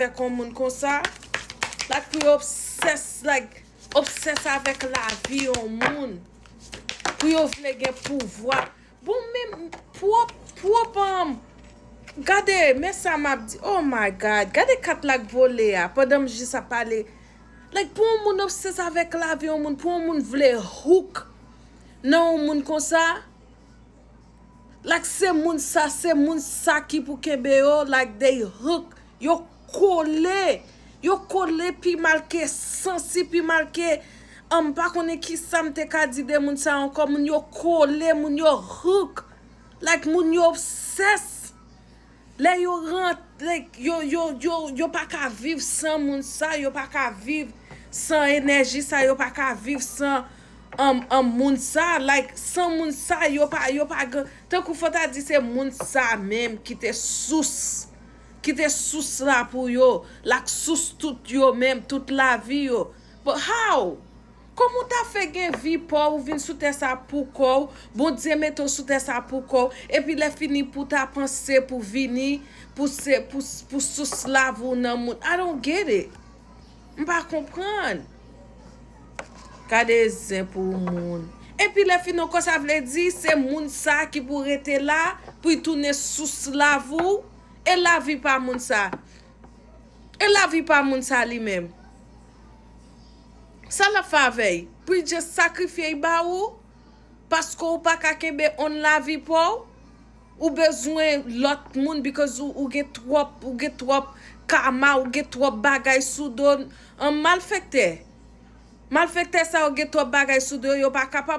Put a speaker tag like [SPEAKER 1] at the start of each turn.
[SPEAKER 1] fè kon moun konsa like pou yo obsès like obsès avèk lavi yon moun pou yo vle gen pouvwa bon men pwòp pwòp anm gade men sa map di oh my God gade kat la k vole a pandan m jis ap pale like pou yon moun obsès avèk lavi yon moun pou yon moun vle hook nan yon moun konsa. Like se moun sa se moun sa ki pou kenbe yo like they hook yo kole yo kole pi mal ke sansi pi mal ke an m pa konnen kisam te ka di de moun sa yo ankò moun yo kole moun yo hook like moun yo obsess. Lè yo rantre, yo, yo, yo, yo pa ka viv san moun sa yo, yo pa ka viv san enèji sa yo, yo pa ka viv san an, an moun sa, like san moun sa yo pa, yo pa gen, tankou fò ta di se moun sa menm ki te sous, ki te sous la pou yo, lak sous tout yo menm, tout lavi yo, but how? Kòman w ta fè gen vi paw ou vin sou tè sa pou kòw Bondye mete w sou tè sa pou kòw epi lè fini pou ta panse pou vini pou se pou sous lav ou nan moun I don't get it m pa konprann gade zen pou moun epi lè fini ankò sa vle di se moun sa ki pou rete la pou y tounen sous lav ou e lavi pa moun sa e lavi pa moun sa li menm. Sa lap fè avèy? Poul just sakrifyey ba ou? Paske ou paka kenbe on lavi paw? Ou bezwen lòt moun because ou gen twòp ou gen twòp karma ou gen twòp bagay sou do an malfektè malfektè sa yo gen twòp bagay sou do yo yo pa kapab